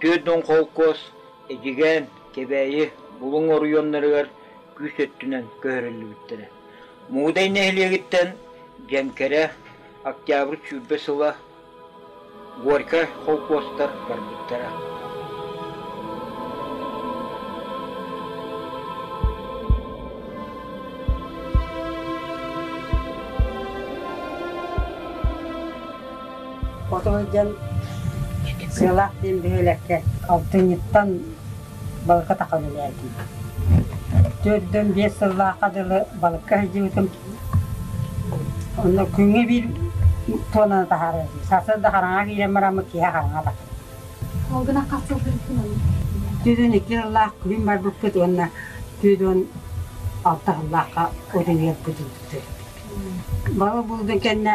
Түөрт уон холкуос Эдьигээн, Кэбээйи, Булуҥ оройуоннарыгар күүс өттүнэн көһөрүллүбүттэрэ. Муудай нэһилиэгиттэн Дьэҥкэрэ, Октябрь сүүрбэ сыла Горькай холкуостар барбыттара Хотон дьон сыалаах диэн бөһүөлэккэ алтынньыттан балыка тахан үлэлээтим. Төрдөн биэс сыллаахха дылы балыкка сылдьыбытым. Онно күҥҥэ биир туонаны таһаарар этим. Сарсын да хараҥа киирэн бараммыт киһи хараҥа да. Ол гынан хас сылдыыргын аны? Түөдөн икки сыллаах күн барбыппыт уонна түөдөн алта сыллаахха утуйуорбут эбиттэр. Балык булдун кэннэ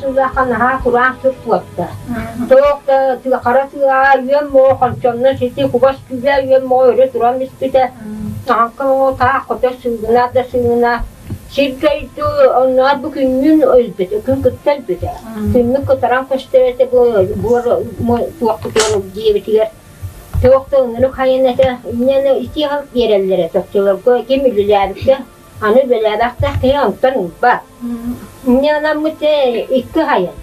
Сыыһа наһаа кураанчык туотта. Тоох да тыа хара тыаҕа үөн моо хончонно сити кубас күүһэ үөн моо өрө туран бүспүтэ. Аанка моо таах хото сыыгына да сыыгына сир-дойду онноор бу күннүн өлбүтэ, күн кытта өлбүтэ. Күммүк кытаран көстөрөтө бу туохпутуор диэбитигэр туох да ынырык хайан этэ, инньэ ити хал биэрэллэрэ чопчуларга ким үлэлээбиттэ Аны үлэлээбэхтэх киһи онтон ылбат. Мне анаммыт икки хайын.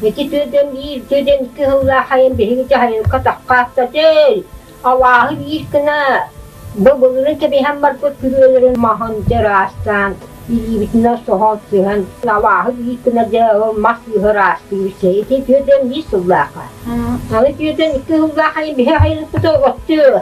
Ити түөдэн биир түөдэн икки сыллаах хайын биһиги дьаһайынка таххаатта төл. Алааһы биир гына былырын кэбиһэн барбыт күрүөлэрин маһын дьараастаан илиибитинэн соһон сыһан алааһы биир гына дьэ мас ыыһы ыраастыырса ити түөдэн биир сыллааха. Аны түөдэн икки сыллаах хайын биһи хайынпыта отту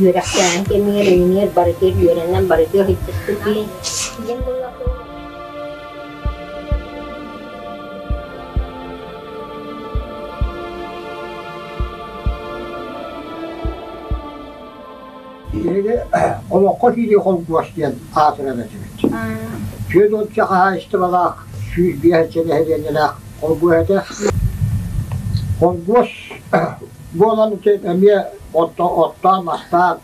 Үөрэхтээҕин кэмигэр эҥиэр барытыгар үөрэнэн барытыгар ыһыйдыспыт диэн диэн буоллахпына Биһиги олоххо киирии холкуос диэн аатырар этибит. Феодосия хаһаайыстыбалаах сүүс биэһ нэһилиэнньэлээх холкуос этэ. Холкуос Буолан эмиэ оттоон-мастаан,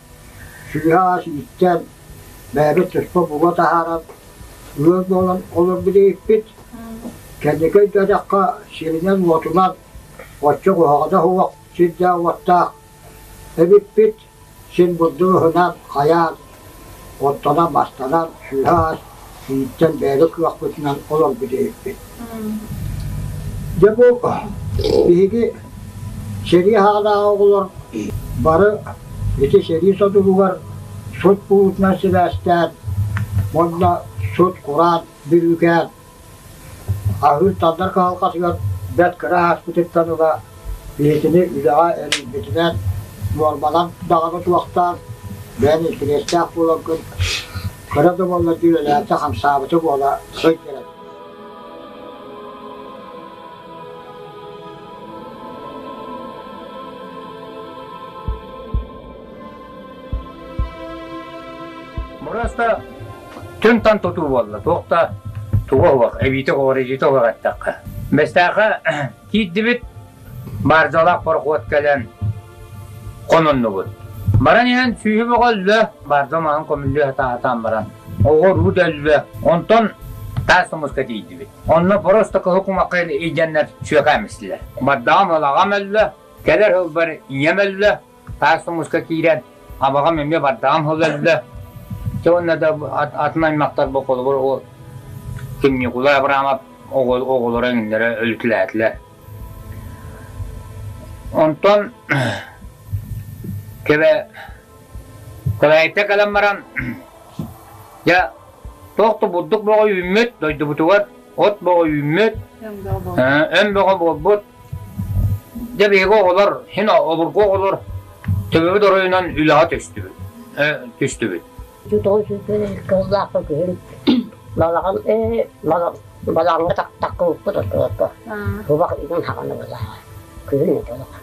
сыыһа-аас ииттэн, бэйэбит туспа була таһааран, ыал буолан олорбут ииппит. Кэнники өйдөөтөххө, сиринэн-уотунан, оччо куһаҕана суох сирдээх-уоттаах эбиппит. Син бурдук-ыһынар, хайаар, оттонор-мастанар сыыһа-ас иһиттэн бэйэбит куһахпытынан олорбут эбиппит. Дьэ бу биһиги сэрии аһаалааҕы оҕолор бары ити сэрии судугугар сут пуутунан сибээстээн уонна сут кураан Бүлүүкэ аһыы танда кыһалҕатыгар бэрт кыра ааспытыттан ыла биһитини үлэҕэ эрийбитинэн нуорманан даҕаны туохтаан бэйэм интэриэстээх буоларгын кыра да буолларга үлэлээтэ хамсаабыта буола сылдьарын Мураста Түн-тан тутуу буолла. Туох да туга суох, эбиитэ оҕоридьита суох эттэххэ. Местээхэ киирдибит, бааржалаах пароход кэлэн хонуннубут. Баран иһэн сүүһү бөҕөллө, бааржа маһын көмүллүө сатаһатаан баран. Оҕо руу дэллө, онтон таас тумуска тиийдибит. Онно просто кыһыл кумахын ийденнэр сүөкээмистилэр. Бардаҕым ылаҕам өллө, кэлэр сылбар ийэм өллө, Таас хомуска киирэн абаҕам эмиэ бардаҕым өллө. Ити уонна да атын аймахтарбыт холобур ол ким Ньукулай Абрамов оҕолоро иҥнэрэ өлүтүлээтилэр. Онтон кэбэ Кылайта кэлэн баран дьэ туох да бурдук бөҕө үүммүт дойдубутугар От бөҕө үүммүт, эн бөҕө буолбут. Дьэ биһиги оҕолор, син обургу оҕолор төбөбүт оройунан үлэҕэ түстүбүт. түстүбүт. Дьутоҕу сүргэнэргэ ыллаахха күһүн балаҕан ээ балаҕаҥҥа тахтакка укпут отторго. Кубах игин хаҕаны булаҕа. Күһүн өтө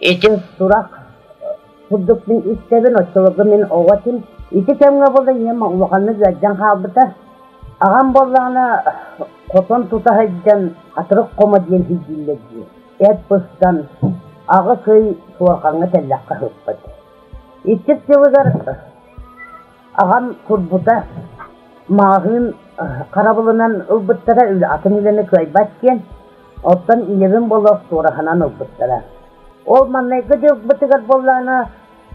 Этим сурах курдук мин истэбин, оччолорго мин оҕо этим. Ити кэмҥэ буола ийэм улаханнык ыалдьан хаалбыта. Аҕам буоллаҕына хотон тута сылдьан атырык хомо диэн сирдииллэр дии. Эт быстан, аҕыс ый суорҕаҥҥа тэллэххэ сыппыт. Иккис дьылыгар Аҕам турбута маҕаһыын харабылынан ылбыттара, атын үлэни кыайбат диэн. Оттон ийэбин болуос туораһынан ылбыттара. Ол маҥнайгы дьылбытыгар буоллаҕына,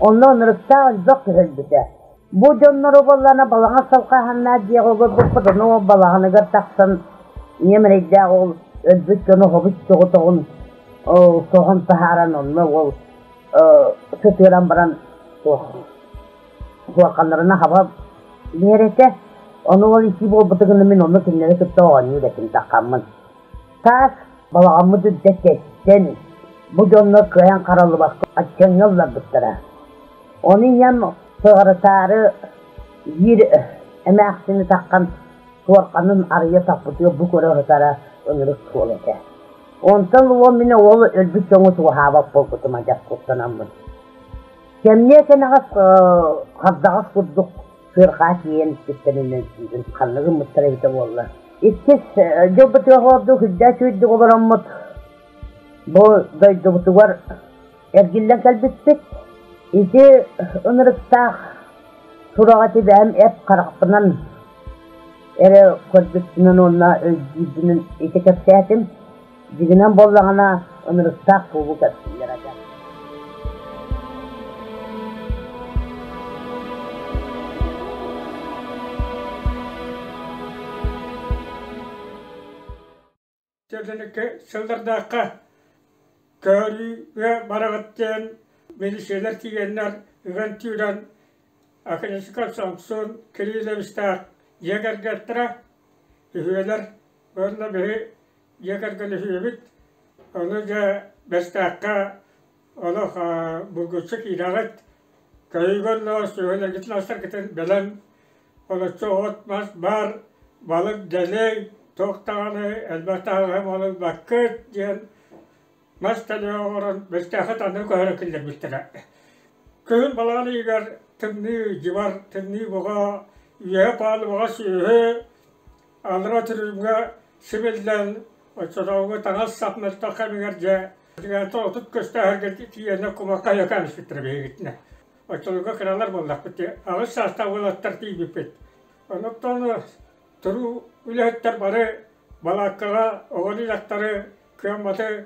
онно ынырыктаах элбэх киһи өлбүтэ. Бу дьоннору буоллаҕына балаҕан салхааһаннаах дьиэҕэ олорбуппут онно балаҕаныгар тахсан ийэм эрэйдээх уол өлбүт дьону хобус соҕотоҕун соһон таһааран онно уол сытыыран баран туох куһакаларына хаба миэрэтэ ону ол итии буолбута гына мин ону кинилэри кытта оонньуу дэтим такаммын таас балаҕаммыт үрдэ тэттэн бу дьонно кыайан хараллыбакка аччаҥҥа ылларбыттара ону ийэм сыҕарытаары биир эмээхсини таххан туорханын арыйа таппытыа бу көрө сытара ынырык суол этэ онтон уол мин уол өлбүт дьоҥҥо туһаабат буолбутум адьас куттанаммын Кэмниэ кэнэҕэс хардаҕас курдук сыырхаа тиийэн иститтэнинэн сиирин ханна гыммыттара эбитэ буолла. Иккис дьылбытыгар ордук үрдээх сүүрдүк олороммут бу дойдубутугар эргиллэн кэлбиппит. Ити ынырыктаах сураҕа тибээм эп харахпынан эрэ көрбүттүнэн уонна өйдүүрдүнэн ити кэпсээтим. Дьиҥинэн буоллаҕына, ынырыктаах буолуу кэпсииллэр этэ Сэллэниккэ сыллардаахха көөрүүгэ бараҕыт диэн милициялар тиийэннэр ыган тыыран Академикал Самсон Кирилловичтаах дьиэ кэргэттэрэ үһүөлэр уонна били дьиэ кэргэннэһиэбит ону дьэ Бэстээххэ олох булгуччу киирэҕит көйүгэр ноор сүөһүлэргитин астаргытын билэн олоччу от мас баар балык дэлэй туох даҕаны элбэх даҕаны балыгбаккыт диэн мас төлөө оҥорон Бэстээххэ таны көһөрө киллэрбиттэрэ күһүн балаҕан ыйыгар тымныы дьыбар тымныы буҕа үөһэ паалыбаҕа сүөһү Аллараа төрүөмҥэ сибиллэн, оччотооҕу таҥас-сап мөлтөх кэмигэр дьэ, отут көстөөһөргө тиийэнэ кумакайа кээбиспиттэрэ биһигитинэ. Оччолорго кыралар буоллахпыт, аҕыс саастаах уолаттар тиийбиппит. Онуктааны туруу үлэһиттэр бары балааккаҕа оҕону дьахтары, кыамматы,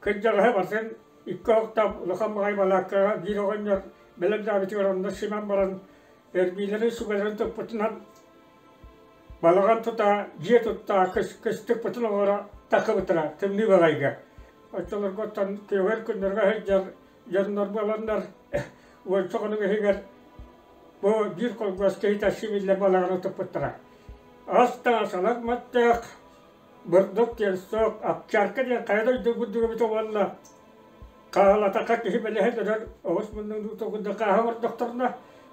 кырдьаҕаһы барытын икки оһохтоох улахан маҕай балааккаҕа биир оҕонньор бэлэм даабытыгар онно симэн баран эрбиилэрин сүгэлэрин туппутунан балаҕан тута дьиэ тутта кыстыкпытын оҕоро такыбытара тымныы баҕайга оччолорго оттон күөгэр күннэргэ сылдьар дьоннор буоланнар уонча хонук иһигэр бу биир холкуос киһи такси биллэр балаҕаны туппуттара ас таҥасалар маттаах бырдык диэн суох опчарка диэн хайа дойду бурдуга эбитэ уолла Хааһылатака киһи бэлэһин өлөр оҕус муннук дуутугунда хааһы ордохторуна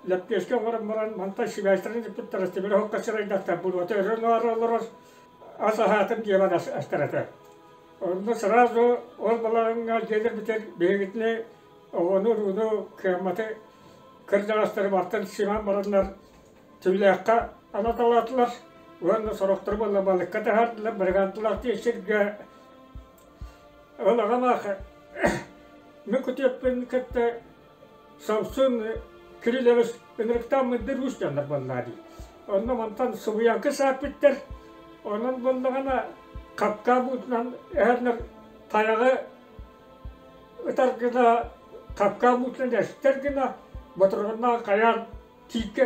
лэппиэскэ оҥорон баран мантан сибээстерин ыппыттара тимир оһохха сырайдахтар булуота өрөн аара олорор ас аһаатын диэбэн астар этэ онно сразу ол балаҕаҥҥа дьиэлэр бүтэр биһигитини оҕону урууну кыамматы кырдьаҕастары бартан симэн бараннар түүлээххэ ана талаатылар уонна сорохтору буолла балыкка таһаардылар бригантылар тиэсиргэ Ол аҕалаах Мөкүтүөппүн кытта Самсун Кириллэбис ынырыктааммыттар уус дьоннор буоллаа дии. Онно мантан субуйаанка сааппыттар. Онон буоллаҕына хапкаабуутунан эһэлэр тайаҕы ытар гына хапкаабуутунан эстэр гына ботурҕаннаан хайаан тииккэ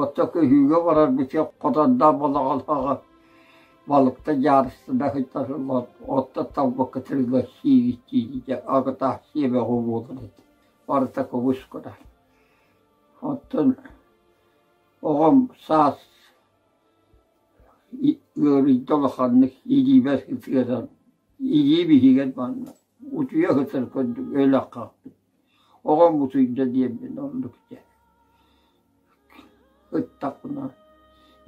Отто көһүүгэ барарбытыгар хотонноох балаҕалааҕа балыкта дьаарыстана сылдьаллар, отто талбакка тырылар сиигиччиигэ агытаах сиэмэҕэ буолар этэ, барыта кобускура. Оттон оҕом саас ыарыйда улаханнык илиибэр сытыаран, илиим иһигэр манна Утуйа сытар курдук өлөххөхпүт, оҕом утуйда диэммин оннук этэ Ыттахпына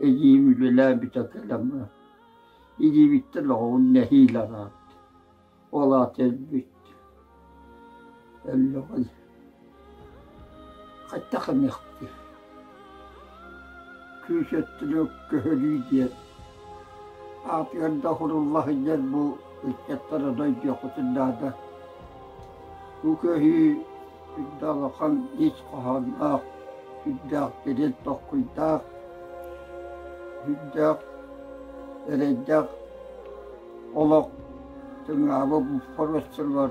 эдьиийим үлэлээбитэ кэлэмэ, илиибиттэн оҕобун нэһиилэ араардым, ол аата өлбүт. Өллөҕүм Хата ханныахпыный, күүс өттүнэ өккөһөлүү диэн, аатыгар да сурулла сылдьар бу ыччаттары дойдуохпутун наада. Бу көһүү үрдэ улахан ис хоһоонноох, сүрдээх тирин толкуйдаах, сүрдээх эрэйдээх олох тыҥаабы буппар өттүгэр